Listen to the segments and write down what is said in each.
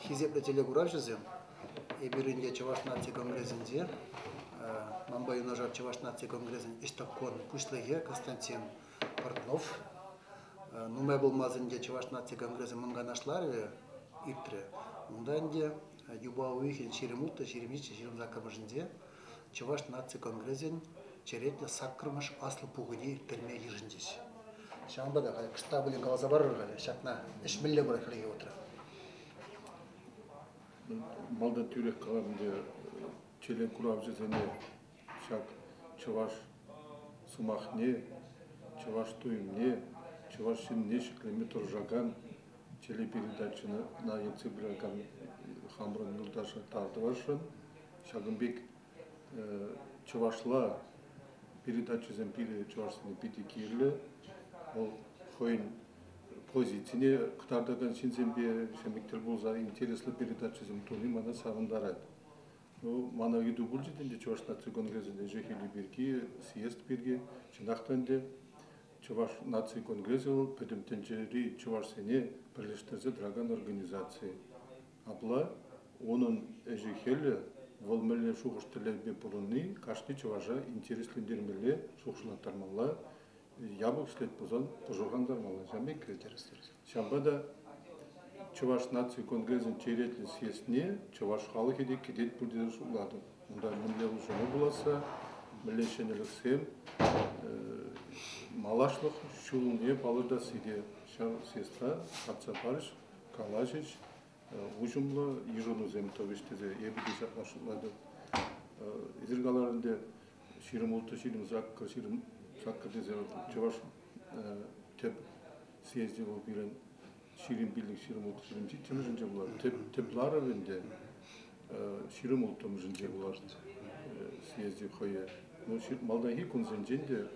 Хисеплӗ телекуравҫӑсем, эпир ӗнтӗ Чӑваш наци конгресӗнче, манпа юнашар Чӑваш наци конгресӗн ӗҫтӑвкон пуҫлӑхӗ Константин Портнов. Нумай пулмасть ӗнтӗ Чӑваш наци конгресӗ мӑн канашларӗ иртрӗ. Унта ӗнтӗ юпа уйӑхӗн ҫирӗм улттӑ, ҫирӗм ҫиччӗ, ҫирӗм саккӑрмӗшӗнче Чӑваш наци конгресӗн черетлӗ саккӑрмӗш аслӑ пухӑне ирттерме йышӑнчӗҫ. Ҫавӑнпа та халӗ штабӗле каласа парӑр халӗ, ҫакна ӗҫ мӗнле пырать хальлӗхе утра? Малта тӳрех калатӑн те, телекуравҫӑсене ҫак чӑваш сӑмахне, чӑваш туйӑмне, чӑваш ҫынне ҫӗклеме тӑрӑшакан телепередачӑна ертсе пыракан хамӑрӑн юлташа тав тӑвасшӑн. Ҫакӑн пек чӑвашла передачӑсем пире чӑвашсене питӗ кирлӗ. Вӑл хӑйӗн позицине кӑтартакан ҫынсемпе ҫемӗк тӗл пулса интереслӗ передачӑсем туни мана савӑнтарать. Ну, мана ыйту пулчӗ ӗнтӗ Чӑваш наци конгресӗн ӗҫӗ-хӗлӗ пирки, съезд пирки. Чӑнах та ӗнтӗ Чӑваш наци конгресӗ вӑл пӗтӗм тӗнчери чӑвашсене пӗрлештерсе тӑракан организаци. Апла унӑн ӗҫӗ-хӗлӗ, вӑл мӗнле шухӑш-тӗллевпе пурӑнни кашни чӑваша интереслентермелле, шухӑшлаттармалла, япӑх ӗҫлет пулсан пӑшӑрхантармалла. Ҫавӑн пек килтерестерес. Ҫавӑнпа та Чӑваш наци конгресӗн черетлӗ съездне чӑваш халӑхӗ те кӗтет пуль тесе шутлатӑп. Унта мӗнле улшӑну пуласса, мӗнле ҫӗнӗлӗхсем, малашлӑх ҫулне палӑртасси те ҫав съездра татса парӗҫ. калаҫӗҫ, уҫӑмлӑ йышӑнусем тӑвӗҫ тесе эпӗ те ҫапла шутлатӑп. Эсир калар ӗнтӗ, ҫирӗм ултӑ ҫирӗм саккӑр, ҫирӗм саккӑр тесе чӑваш тӗп съезчӗ вӑл пирӗн ҫирӗм пиллӗк ҫирӗм ултӑ ҫирӗм ҫиччӗмӗшӗнче пулать. Тӗп, тӗп ларӑв ӗнтӗ ҫирӗм улттӑмӗшӗнче пулать съезчӗ хӑйӗ. Ну, малтанхи кунсенчен те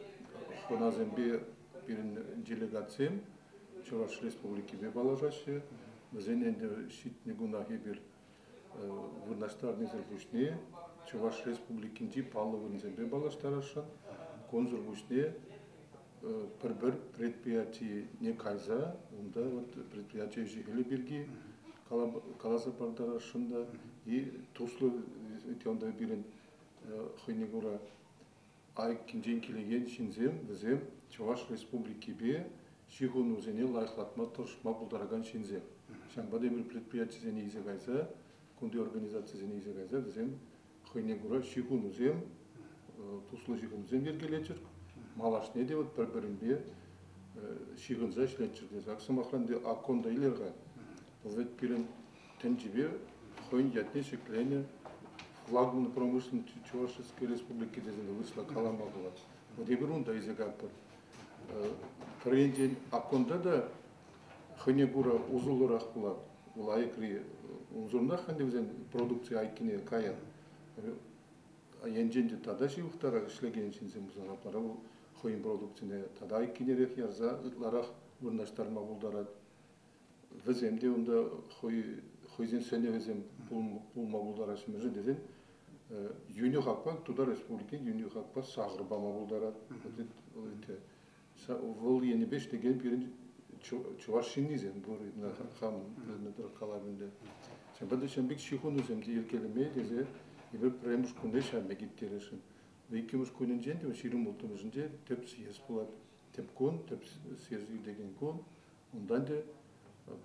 хӑнасемпе пирӗн делегатсем Чӑваш Республикипе паллашаҫҫӗ. Вӗсен ӗнтӗ ҫитнӗ кунах эпир вырнаҫтарнисӗр пуҫне Чӑваш Республикинчи паллӑ вырӑнсемпе паллаштарасшӑн. Кунсӑр пуҫне пӗр-пӗр предприятине кайса унта вот предприятие ӗҫӗ-хӗлӗ пирки каласа пардарасшӑн та и туслӑ регионта пирӗн хӑйне кура Айккинчен килекен ҫынсем вӗсем Чӑваш Республикипе ҫыхӑнусене лайӑхлатма тӑрӑшма пултаракан ҫынсем. Ҫавӑнпа тепӗр предприятисене илсе кайса, кунти организацисене илсе кайса вӗсем хӑйне кура ҫыхӑнусем, туслӑ ҫыхӑнусем йӗркелеччӗр. Малашне те вӑт пӗр-пӗринпе ҫыхӑнса ӗҫлеччӗр тесе. Ак сӑмахран, те АККОН та илер-ха. Вӑл вӗт пирӗн тӗнчипе хӑйӗн ятне ҫӗкленӗ флагман промышленности Чувашской Республики тесен вырӑсла калама пулать. Вот эпир унта илсе катпӑр. Пӗр енчен аккунта та хӑйне кура усӑллӑрах пулать. Ул айӑкри унсӑрӑнах ӗнтӗ вӗсен продукци айккине каян. Енчен те тата ҫывӑхтарах ӗҫлекен ҫынсем пулсан апла вӑл хӑйӗн продукцине тата айккинерех ярса ытларах вырнаҫтарма пултарать. вӗсем те унта хӑй хӑйсен сӗнӗвӗсем пулма пултараҫҫӗ-мӗншӗн тесен юнӗ хакпа Тутар Республики юнӗ хакпа сахӑр пама пултарать. Вӑл енӗпе ӗҫлекен пирӗн чӑваш ҫыннисем пур хам вӗреннӗ тӑрӑх каламен Ҫавӑнпа та ҫын пек ҫыхӑнусем те йӗркелеме тесе эпир пӗрремӗш кунне ҫавна ирттересшӗн. Иккӗмӗш кунӗнчен те ҫирӗм улттӑмӗшӗнче тӗп съезд пулать. Тӗп кун, тӗп съезд иртекен кун. Унтан те,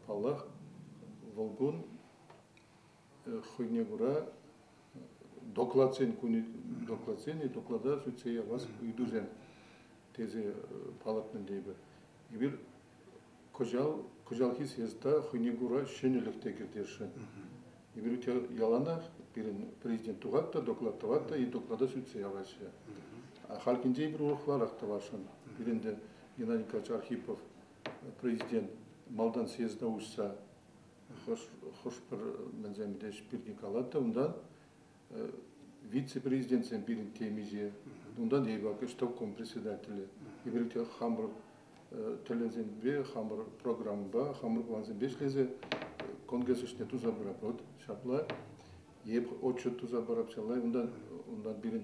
паллах, вӑл кун хӑйне кура докладсен кунӗ докладсен и доклада сӳтсе явас ыйтусем тесе палӑртнӑ тейпӗр. Эпир кӑҫал кӑҫалхи съезда хӑйне кура ҫӗнӗлӗх те кӗртесшӗн. Игорь яланах пирӗн президент тухать та доклад тӑвать та и доклада сӳтсе яваҫҫӗ. Халь кинче эпир урӑхларах тӑвасшӑн. Пирӗнте Геннадий Николаевич Архипов президент малтан съезда уҫса хӑш хӑш-пӗр мӗнсем десь пирки калать та унтан вице-президентсем пирӗн темиҫе, унтан эпак ӗҫтӑвком председателӗ, еврейке хамӑр тӗллевсемпе, хамӑр программӑпа, хамӑр плансемпе ӗҫлесе конгресс ӗҫне туса пыратпӑр. Ҫапла эп отчет туса парапчалла, унтан унтан пирӗн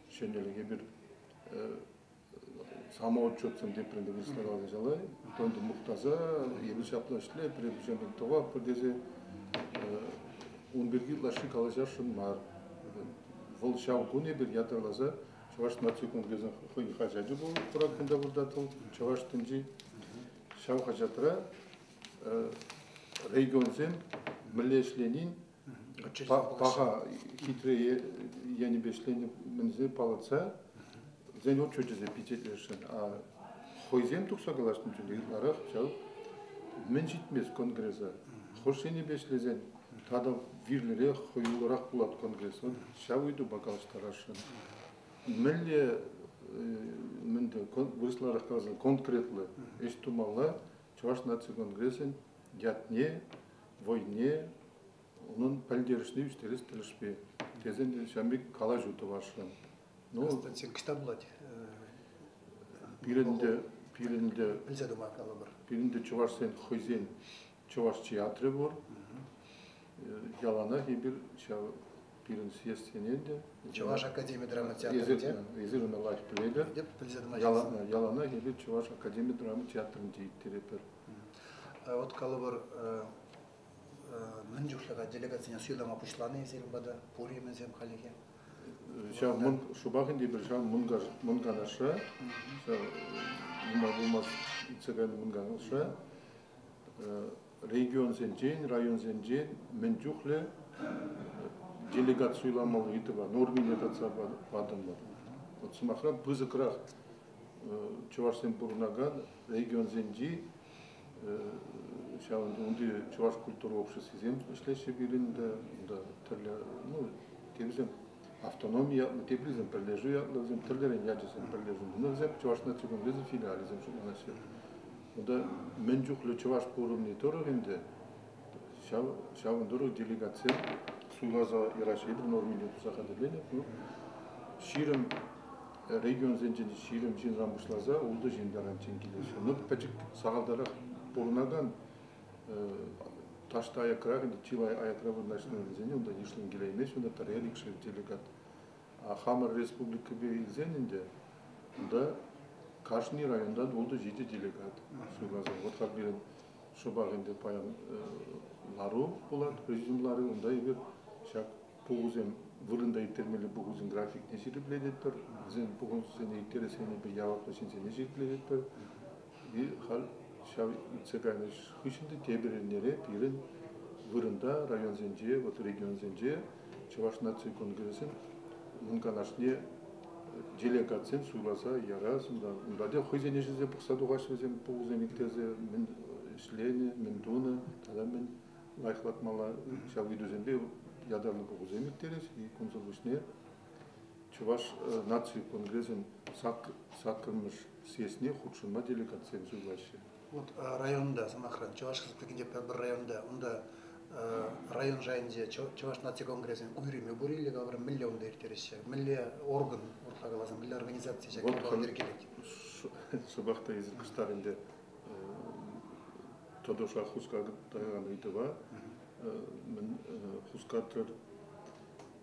ҫӗнӗлӗх эпир самоотчетсӑн тепринте выставлялса ҫала ытон мухтаса эпир ҫапла ӗҫле пире пуҫарнӑ тӑваппӑр тесе ун пирки лаши калаҫасшӑн мар вӑл ҫав кун эпир ятарласа чӑваш наци конгресӗн хӑйӗн хаҫачӗ пулӑп курак кунта вырта тӑл чӑваш тӗнчи ҫав хаҫатра регионсем мӗнле ӗҫленин паха хитре енӗпе ӗҫленӗ мӗнсене палӑртса вӗсен отчечӗсем пичетлесшӗн а хӑйсем тухса калаҫнӑ чухне ытларах ҫав мӗн ҫитмест конгреса хӑш енӗпе ӗҫлесен тата вирлӗрех хӑюлӑрах пулать конгресӑн ҫав ыйтупа калаҫтарасшӑн мӗнле мӗнтӗ вырӑсларах каласан конкретлӑ ӗҫ тумалла чӑваш наци конгресӗн ятне вӑйне, унӑн пӗлтерӗшне ӳстерес тӗлӗшпе тесен те ҫав пек калаҫу тӑвасшӑн. Ну, кӑҫта пулать. Пирӗн те пирӗн те пӗлсе тума каламӑр. Пирӗн те чӑвашсен хӑйсен чӑваш театрӗ пур. Яланах эпир ҫав пирӗн съездсенен те. Чӑваш академи драма театрӗ те. Эсир ӑна лайӑх пӗлетӗр. Пӗлсе тӑма яланах эпир Чӑваш академи драма театрӗнче ирттеретпӗр. Вот калӑпӑр, мӗн чухлӗ делегацине суйлама пуҫланӑ эсир пата, пур-и мӗнсем хальлӗхе? Ҫав мӑн шӑпах ӗнтӗ пӗр ҫав мӑн канашра ҫав нумай пулмасть иртсе кайнӑ мӑн канашра регионсенчен, районсенчен мӗн чухлӗ делегат суйламалли ыйтӑва нормине татса патӑмӑр. Вот сӑмахра пысӑкрах чӑвашсем пурӑнакан регионсенчи ҫавӑн унти чӑваш культура обществисем ӗҫлеҫҫӗ пирӗн те унта тӗрлӗ ну теприсем автономи ятлӑ теприсем пӗрлешӳ ятлӑ вӗсем тӗрлӗрен ячӗсем пӗрлешӳ но вӗсем чӑваш наци конгресӗн филиалӗсем шутланаҫҫӗ унта мӗн чухлӗ чӑваш пурӑнни тӑрӑх ӗнтӗ Ҫавӑн тӑрӑх делегацие суйласа Ираҫ Эдуновине туса хатӗрленӗ. Вӑл ҫирӗм регионсенчен ҫирӗм ҫынран пуҫласа ултӑ ҫын таранччен килет. Ҫыннӑх пӗчӗк сахалтарах пурӑнакан таҫта аякра, чылай аякра вырнаҫнӑ вӗсене унта йышлӑн килеймест. Вӗсенче пӗрер икшер делегат. А хамӑр республикӑпа илсен ӗнтӗ унта кашни районтан ултӑ-ҫичӗ делегат суйласа. Вот как пирӗн шӑпах ӗнтӗ паян лару пулать президент ларӑвӗ. Унта эпир ҫак пухусем вырӑнта ирттермелли пухусен графикне ҫирӗплететпӗр, вӗсен пухусене ирттерес енӗпе яваплӑ ҫынсене ҫирӗплететпӗр. И халь ҫав иртсе кайнӑ ӗҫ хыҫҫӑн те тепӗр эрнере пирӗн вырӑнта районсенче, вот регионсенче Чӑваш наци конгресӗн мӑн канашне делегатсем суйласа ярассӑм унта те хӑйсен ӗҫӗсем пӑхса тухаҫҫӗ вӗсем пулӑсем итлесе мӗн ӗҫленӗ мӗн тунӑ тата мӗн лайӑхлатмалла ҫав ыйтусемпе ятарлӑ пухусем ирттерӗҫ кунсӑр пуҫне Чӑваш наци конгресӗн саккӑрмӗш съездне хутшӑнма делегатсем суйлаҫҫӗ. Вот районта, сӑмахран, Чӑваш Республикинчи пӗр районта, унта район шайӗнче Чӑваш наци конгресӗн уйрӑмӗ пур иле калӑпӑр мӗнле унта ирттереҫҫӗ, мӗнле орган, уртла каласан, мӗнле организаци ҫак ялпа йӗркелет? Шӑпах та эсир кӑштах ӗнтӗ тӑтӑша хускатып тӑкакан ыйтӑва мӗн хускатрӑр.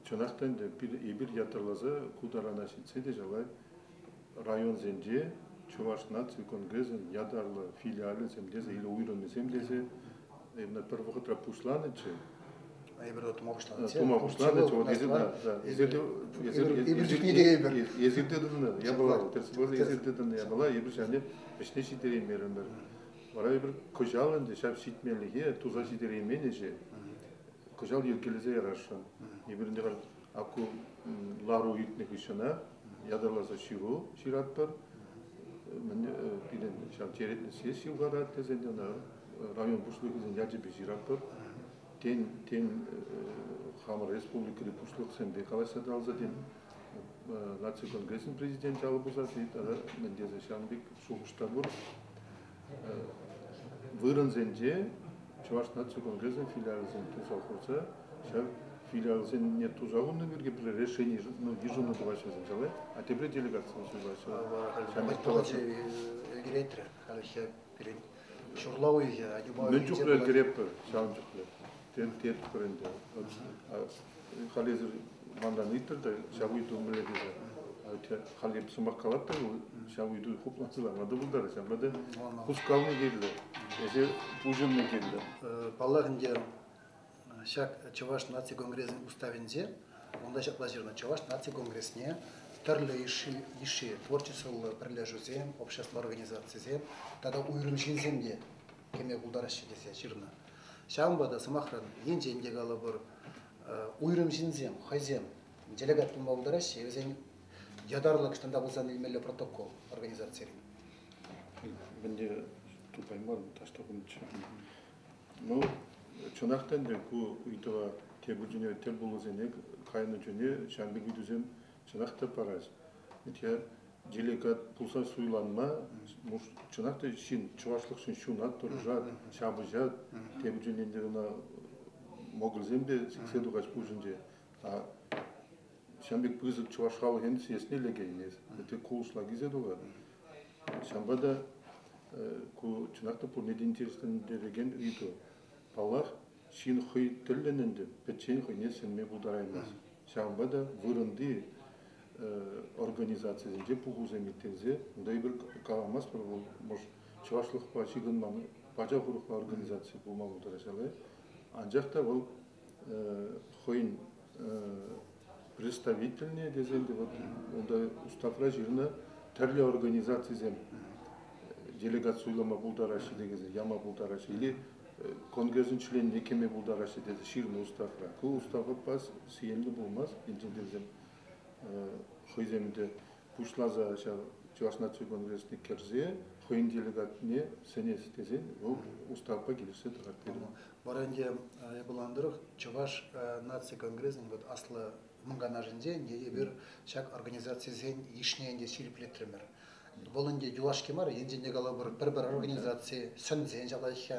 Чӑнах та ӗнтӗ эпир ятарласа ку тарана ҫитсе те шалай районсенче Чӑваш наци конгресӗн ятарлӑ филиалӗсем тесе или уйрӑммисем тесе именно пӗр вӑхӑтра пуҫланӑччӗ. Эпир тума пуҫланӑччӗ. Тума пуҫланӑчче вот эсир да эпир чухне те эпир эсирте тӑнӑ япала эсирте тӑнӑ япала эпир ҫане ӗҫне ҫитереймерӗмӗр вара эпир кӑҫал ӗнтӗ ҫав ҫитмеллӗхе туса ҫитереймен ӗҫе кӑҫал йӗркелесе ярасшӑн эпир ӗнтӗ Ку лару иртнӗ хыҫҫӑна ятарласа ҫыру ҫыратпӑр. Пирӗн ҫав черетлӗ сесси юхарать тесен ӑна район пуҫлӑхӗсен ячӗпе ҫыратпӑр. Тен, тен хамӑр республикӑри пуҫлӑхсемпе калаҫса тӑрӑлса, тен, наци конгресӗн президенчӗ алӑ пусать-и тата мӗн тесе ҫавӑн пек шухӑш та пур. Вырӑнсенче Чӑваш наци конгресӗн филиалӗсем туса хурса ҫав филиалсене туса хунӑ пирки решени йышӑну тӑваҫҫӗ вӗсем а тепре делегацие ҫырлаҫҫӗ. Ҫамрӑк палӑчӗ ӗлкӗрет халӗ ҫав пирӗн ҫурла уйӑхӗ. Мӗн чухлӗ ӗлкӗретпӗр ҫавӑн чухлӗ. тем тетпӗр ӗнтӗ. Халесӗр манран ыйтрӑр та ҫав ыйту мӗнле тесе. Халӗ сӑмах калать та вӑл, ҫав ыйту хуплансӑрланма та пултарӗ, ҫавна та хускални кирлӗ, эсир пуҫӑнни кирлӗ. Паллах ӗнтӗ, ҫак Чӑваш наци конгресӗн уставӗнче унта ҫапла ҫырнӑ, Чӑваш наци конгресне тӗрлӗ йышши творчествӑллӑ пӗрлешӳсем, общество организацисем тата уйрӑм ҫынсем те кӗме пултараҫҫӗ тесе ҫырнӑ. Ҫавӑнпа та, сӑмахран, енчен те калӑпӑр, уйрӑм ҫынсем хӑйсем делегат пулма пултараҫҫӗ, вӗсен ятарлӑ ӑҫтанта пулсан илмелле протокол организацирен. Мӗнле тупайман таҫтакунччӗ. Ну, чӑнах та ӗнтӗ ку ыйтӑва тепӗр чуне тӗл пулусене кайнӑ чуне ҫамрӑк ыйтусем чӑнах та парать. Ведь я делегат пулса суйланма чӑнах та ҫын чӑвашлӑхшӑн ҫунат тӑрӑшать, ҫапӑҫа тепӗр ченлентер ӑна могылсемпе сиксе тухать пуҫӗнче. А ҫавӑн пек пысӑк чӑваш халӑх ӗнтӗ сиесне лекеймест. Вӗтте кулӑшла килсе тухать. Ҫавӑнпа та ку чӑнах та пурне те интереслентерекен ыйту. Паллах, ҫын хӑй тӗллӗн ӗнтӗ пӗччен хӑйне сӗнме пултараймасть. Ҫавӑнпа та вырӑнти организацисенче пухусем ирттерсе эпир каламастпӑр вӑл, мӑш, чӑвашлӑхпа ҫыхӑнман пачах урӑхла организаци пулма пултарать-ҫавӑ. Анчах та вӑл хӑйӗн представительне тесен те вот унта уставра ҫырнӑ тӗрлӗ организацисем делегат суйлама пултараҫҫӗ текенсем яма пултараҫҫӗ или конгрессӑн членне кӗме пултараҫҫӗ тесе ҫырнӑ уставра ку уставпа сиенлӗ пулмасть инсентивсем хӑйсем ӗнтӗ пуҫласа ҫав Чӑваш наци конгресне кӗрсе хӑйӗн делегатне сӗнес тесен вӑл уставпа килӗшсе тӑрать пирӗн. Вара ӗнтӗ япалан тӑрӑх Чӑваш наци конгресӗн вот аслӑ мӑнканашӗнче эпир ҫак организацисен йышне ӗнтӗ ҫирӗплетрӗмӗр. Вӑл ӗнтӗ юлашки мар, енчен те калӑпӑр, пӗр-пӗр организаци сӗнсен ҫапаҫҫӗ,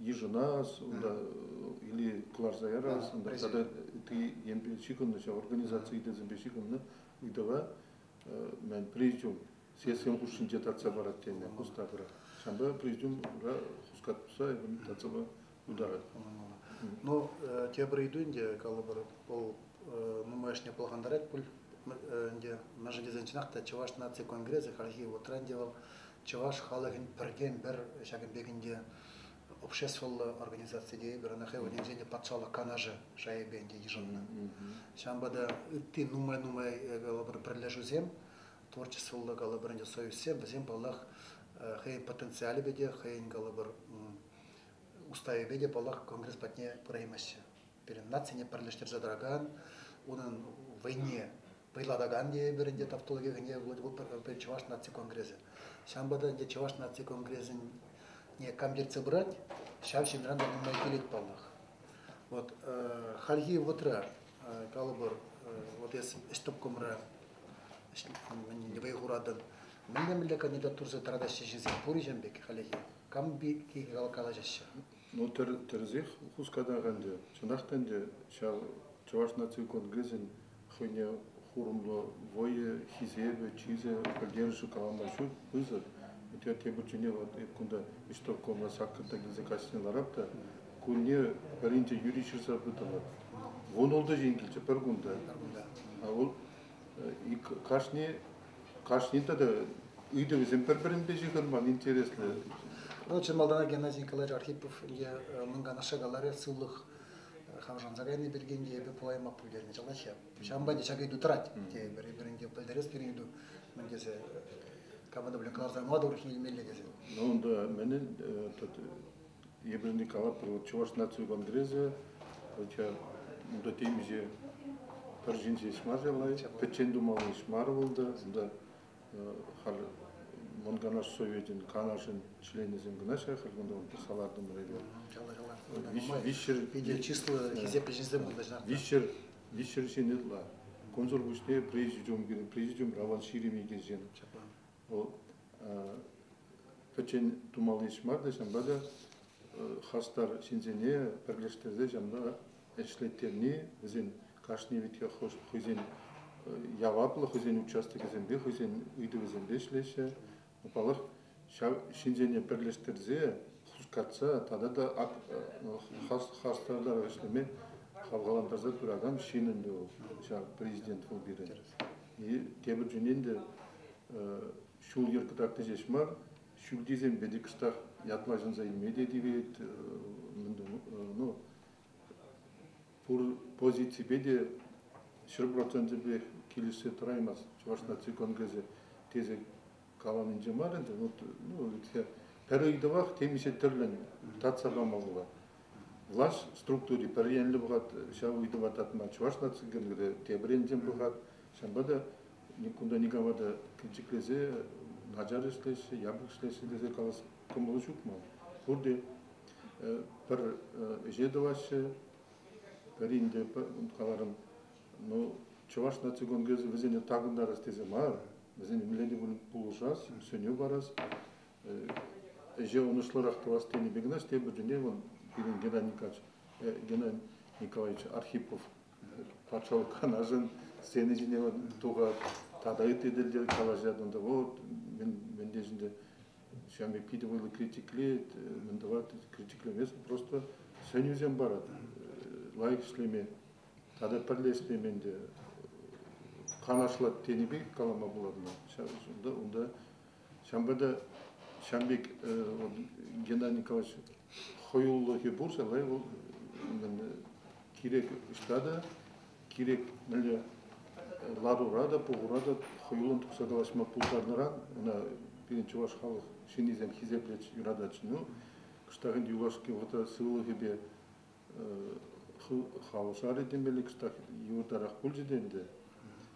йышӑнас, унта или кӑларса ярас, унта тата ытти енпе ҫыхӑннӑ ҫав организаци ыйтӑсемпе ҫыхӑннӑ ыйтӑва мӗн президиум сессин хушшинче татса парать тенӗ хускатӑра. Ҫавӑнпа президиумра хускатса эпӗ татсапа пултарать. Ну, тепӗр ыйту ӗнтӗ, калӑпӑр, вӑл нумайӑшне пӑлхантарать пуль ӗнтӗ. Мӗншӗн тесен чӑнах та Чӑваш наци конгресӗ хальхи вӑхӑтра ӗнтӗ вӑл Чӑваш халӑхӗн пӗртен-пӗр ҫакӑн пек ӗнтӗ обществӑллӑ организаци тейӗпӗр, ӑна хӑй вырӑнӗнче ӗнтӗ патшалӑх канашӗ шайӗпе ӗнтӗ йышӑннӑ. Ҫавӑнпа та ытти нумай-нумай калӑпӑр пӗрлешӳсем, творчествӑллӑ калӑпӑр ӗнтӗ союзсем, вӗсем паллах хӑйӗн потенциалӗпе те, хӑйӗн калӑпӑр уставӗпе те паллах конгресс патне пыраймаҫҫӗ. Пирӗн нацине пӗрлештерсе тӑракан, унӑн вӑйне Пӑйлатакан тейӗпӗр ӗнтӗ тавтологи кӗнеке Владивостокӑн Чӑваш наци конгресӗ. Ҫавӑнпа та ӗнтӗ Чӑваш наци конгресӗне камчертсе пырать, ҫав ҫынран та нумай килет паллах. Вот хальхи вӑтра, калӑпӑр, вот эс ӗҫтӑпкӑмра вӑй хуратӑн, мӗнле-мӗнле кандидатурӑсем тӑратаҫҫӗ ҫынсем пур-и ҫавӑн пек хальлӗхе? Кам пирки калаҫаҫҫӗ? Ну, тӗрӗсех хускатах ӗнтӗ. Чӑнах та ӗнтӗ, ҫав Чӑваш наци конгресӗн хӑйне хурӑмлӑ вӑйӗ, хисепӗ, чысӗ, пӗлтерӗшӗ калама ҫук пысӑк. Те тепӗрчченех вот эп кунта исполкомра саккӑрта килсе каҫне ларап та кунне пӗринче юри ҫырса пытӑмӑр. Вун ултӑ ҫын килчӗ пӗр кунта. А вӑл кашни кашни тата ыйтӑвӗсем пӗр-пӗринпе ҫыхӑнман интереслӗ. Ну, чи малтанах Геннадий Николаевич Архипов е мӑнкан ашшӗ каларӗ сывлӑх хавшанса кайни пирки эпӗ пулаймах пӗлтернӗ чӑлахе. Ҫавӑнпа те ҫак ыйту тӑрать тейӗпӗр. Пӗринпе пӗлтерес пирӗн ыйту мӗн тесе кому-то блин кӑларса мала тухрӑш илмелле тесе. Ну, унта менен Эпир ӗнтӗ калатпӑр, Чӑваш наци конгресӗ унта темиҫе пӗр ҫын ҫеҫ мар-ши лайӑх, пӗччен тумалли ӗҫ мар унта. Унта халь Мӑн Канаш Совечӗн Канашӗн членӗсем кӑна-ҫке халь кунта салатӑмӑр эпир. Виҫҫӗр питӗ чыслӑ хисеплӗ ҫынсем пулнӑ ҫав. Виҫҫӗр виҫҫӗр ҫын ытла. Кунсӑр пуҫне президиум президиум Раван Ширим иккен ҫын. Вӑл пӗччен тумалли ӗҫ мар та, ҫавӑнпа та хастар ҫынсене пӗрлештерсе ҫавӑнпа ӗҫлеттерни вӗсен кашни витех хӑйсен яваплӑ хӑйсен участокӗсемпе, хӑйсен ыйтӑвӗсемпе ӗҫлеҫҫӗ. Паллах, ҫав ҫынсене пӗрлештерсе, хускатса тата та хастартарах ӗҫлеме хавхалантарса пыракан ҫын ӗнтӗ вӑл, ҫав президент вӑл пирӗн. тепӗр чунин те ҫул-йӗр кӑтартни ҫеҫ мар, ҫӳлтисемпе те кӑштах ятла ҫӑнса илме те тивет. Ну, пур позиципе те ҫӗр проценчӗпех килӗшсе тӑраймасть Чӑваш наци конгресӗ тесе каланинче мар ӗнтӗ, вот, ну, пӗр ыйтӑвах темиҫе тӗрлӗн татса памалла. Влаҫ структури пӗр енлӗ пӑхать ҫав ыйтӑва татма, Чӑваш наци геройӗ тепӗр енчен пӑхать. Ҫавӑнпа та кунта никама та кӗнчӗклесе начар ӗҫлеҫҫӗ, япӑх ӗҫлеҫҫӗ тесе калас кӑмӑлу ҫук ман. Пурте пӗр ӗҫе тӑваҫҫӗ. Пӗрин те, каларӑм, Ну, Чӑваш наци конгресӗ вӗсене такӑнтарас тесе мар, вӗсене мӗнле кун пулӑшас, сӗнӳ парас, ӗҫе ӑнӑҫлӑрах тӑвас тенӗ пек кӑна тепӗр тӗле вӑл пирӗн Геннадий Николаевич Архипов патшалӑх канашӗн сцена ҫине тухать тата ытти тӗлте калаҫать унта вот мӗн мӗн тешӗнте ҫав пирки те вӑйлӑ критиклет мӗн тӑвать критиклемест просто сӗнӳсем парать лайӑх ӗҫлеме тата пӗрлешсен ӗнтӗ канашлать тенӗ пек калама пулатна ҫав унта унта ҫавӑнпа та ҫавӑн пек вот Геннадий Николаевич хӑюллӑхӗ пурса лай вӑл кирек ӑҫта та кирек мӗнле ларура та пухура та хӑюллӑн тухса калаҫма пултарнӑран ӑна пирӗн чӑваш халӑх ҫыннисем хисеплет юратать ну кӑштах ӗнтӗ юлашки вӑхӑтра сывлӑхӗпе халӑшарӗ темелле кӑштах юртарах пулчӗ те ӗнтӗ.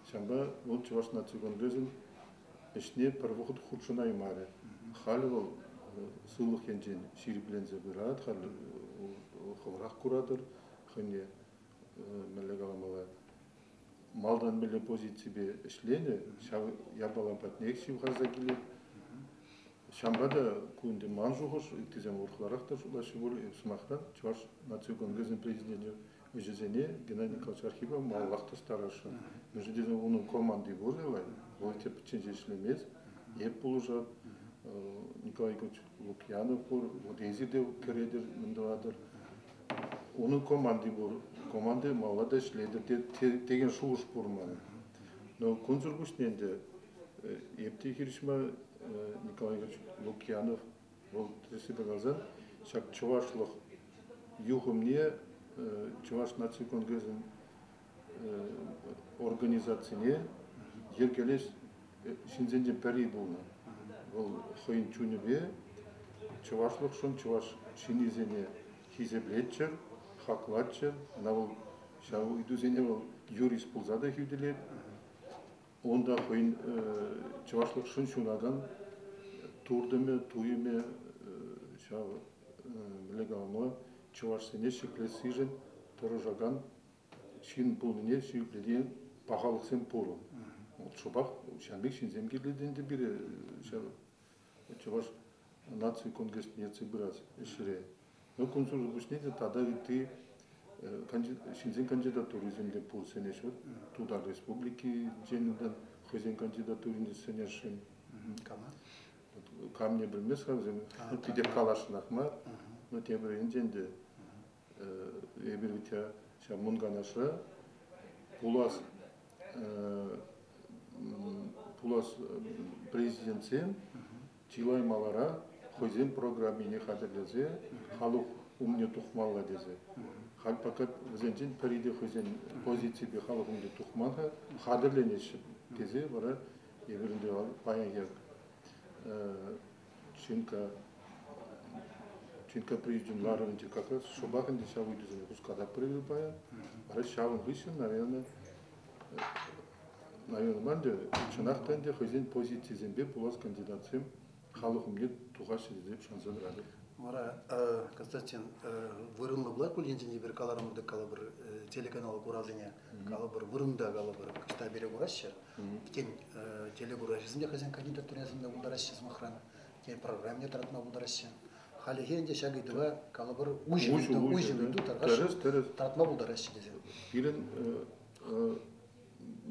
Ҫавӑнпа вӑл Чӑваш наци конгресӗн ӗҫне пӗр вӑхӑт хутшӑнаймарӗ. Халӗ вӑл сывлӑх енчен ҫирӗпленсе пырать, халӗ хӑвӑрах куратӑр хӑйне мӗнле каламалла малтан мӗнле позиципе ӗҫленӗ, ҫав япала патнех ҫывхарса килет. Ҫавӑнпа та ку ӗнтӗ ман шухӑш, ыттисем урӑхларах та шутлаҫҫӗ пуль. Сӑмахран, Чӑваш наци конгресӗн президенчӗ ӗҫӗсене Геннадий Николаевич Архипов малаллах тӑстарасшӑн. Мӗншӗн тесен унӑн команди пур аван, вӑл тӗпчен ҫеҫ ӗҫлемест. Эп пулӑшар. Николай Николаевич Лукьянов пур, вот эсир те кӗретӗр, мӗн тӑватӑр. Унӑн команди пур, команди малалла та ӗҫлетӗр текен шухӑш пур ман. Но кунсӑр пуҫне ӗнтӗ Эпти хирӗҫма Николай Ильич Лукьянов вӑл тӗрӗслесе каласан ҫак чӑвашлӑх юхӑмне Чӑваш наци конгресӗн организацине йӗркелес ҫынсенчен пӗри пулнӑ. Вӑл хӑйӗн чунӗпе чӑвашлӑхшӑн чӑваш ҫыннисене хисеплетчӗ, хаклатчӗ. Ӑна вӑл ҫав ыйтусене вӑл юрист пулса та хӳтӗлет. Унта хӑйӗн чӑвашлӑхшӑн ҫунакан туртӑмӗ, туйӑмӗ ҫав лекалма чӑвашсене ҫӗклессишӗн тӑрӑшакан ҫын пулнине ҫирӗплетекен пахалӑхсем пур. Вӑл шӑпах ҫакӑн пек ҫынсем кирлӗ те ӗнтӗ пире ҫав Чӑваш наци конгресне ертсе пырас ӗҫре. Кунсӑр пуҫне те тата ытти ҫынсен кандидатурисем те пур сӗнеҫҫӗ. Тутар Республикинчен унтан хӑйсен кандидатурине сӗнесшӗн. Кама? Камне пӗлмест-ха вӗсем. Питӗ каласшӑнах мар. Но тем временчен те эпир ҫав мунканашра пулас пулас президентсем чылай маларах хӑйсен программине хатӗрлесе халӑх умне тухмалла тесе. Халь пока вӗсенчен пӗри те хӑйсен позиципе халӑх умне тухман-ха, хатӗрленеҫҫӗ тесе вара эпир ӗнтӗ паянхи Чинка Чинка президент ларӑвӗнче как раз шӑпах ӗнтӗ ҫав ыйтусене хуската прыгы паян. Вара ҫавӑн хыҫҫӑн, наверное, наверное мар ӗнтӗ, чӑнах та ӗнтӗ хӑйсен позицийӗсемпе пулас кандидатсем халӑх умне тухаҫҫӗ тесе шанса тӑратӑп. Вара, Константин, вырӑнлӑ пулать пуль енчен те пӗр каларӑм тӑк калӑпӑр телеканал куравсене? калӑпӑр вырӑнта калӑпӑр ӑҫта пере кураҫҫӗ, тен телекуравҫӑсем те хӑйсен кандидатураҫисем те пултараҫҫӗ сӑмахран, тен программне тӑратма пултараҫҫӗ. Халӗхе ӗнтӗ ҫак ыйтӑва калӑпӑр уҫӑ ыйту, уҫӑ ыйту тӑратма пултараҫҫӗ тесен. Пирӗн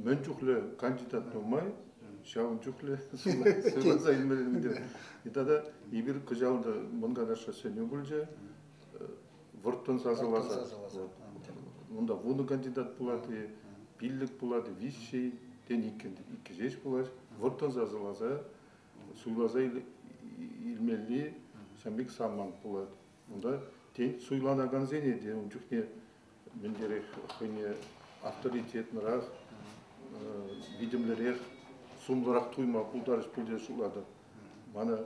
мӗн чухлӗ кандидат нумай, ҫавӑн чухлӗ сывласа илмелле тата эпир кӑҫал та мӑн канашра сӗнӳ пулчӗ вӑрттӑн сасӑласа унта вунӑ кандидат пулать-и, пиллӗк пулать-и, виҫҫӗ тен иккӗн иккӗ ҫеҫ пулать вӑрттӑн сасӑласа суйласа илмелли ҫын пек самант пулать унта тен суйланакансене те ун чухне мӗнлерех хӑйне авторитетнырақ видимлӗрех сумлӑрах туйма пултарӗҫ пуль те шутлатӑп Мана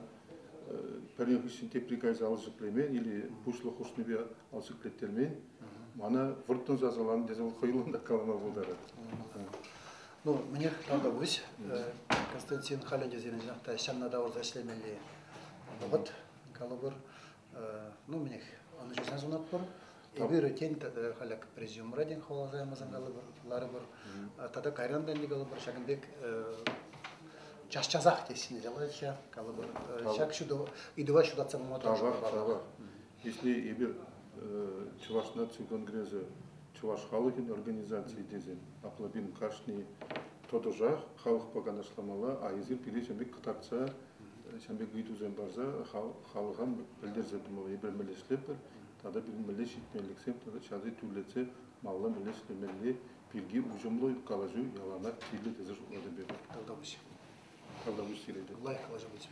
пӗрин хыҫҫӑн тепри кайса ал ҫӗклемен или пуҫлӑх хушнипе ал ҫӗклеттермен. Мана вӑрттӑн сасӑланӑ тесе вӑл хӑюллӑн та калама пултарать. Ну, мӗнех, ӑна пуҫ. Константин халӗ те сирӗн та ҫавна тавӑрса ӗҫлемелли вӑхӑт, калӑпӑр. Ну, менех ӑнӑҫуса сунатпӑр. Эпир тен халӗ президиумра тен хавхаланмасан калӑпӑр, ларӑпӑр. Тата кайран та калӑпӑр, ҫакӑн пек час-часах тессине ҫаваҫҫӗ, калӑпӑр. Ҫак ыйтӑва ҫутатса пама тӑрӑшӑпӑр. Тавах, Если эпир Чӑваш наци конгресӗ Чӑваш халӑхӗн организацийӗ тесен Аплабин кашни тӑтӑшах халӑхпа канашламалла, а эсир пире ҫамрӑк кӑтартса ҫавӑн пек ыйтусем парса халӑха пӗлтерсе тӑмалла, епле мӗнле ӗҫлетпӗр тата пирӗн мӗнле ҫитменлӗхсем тата ҫати тӳрлетсе малалла мӗнле ӗҫлемелли пирки уҫӑмлӑ калаҫу яланах кирлӗ тесе шутлатӑп эпӗ. Тавтапуҫ. Тавтапуҫ сире те. Лайӑх калаҫу пулчӗ.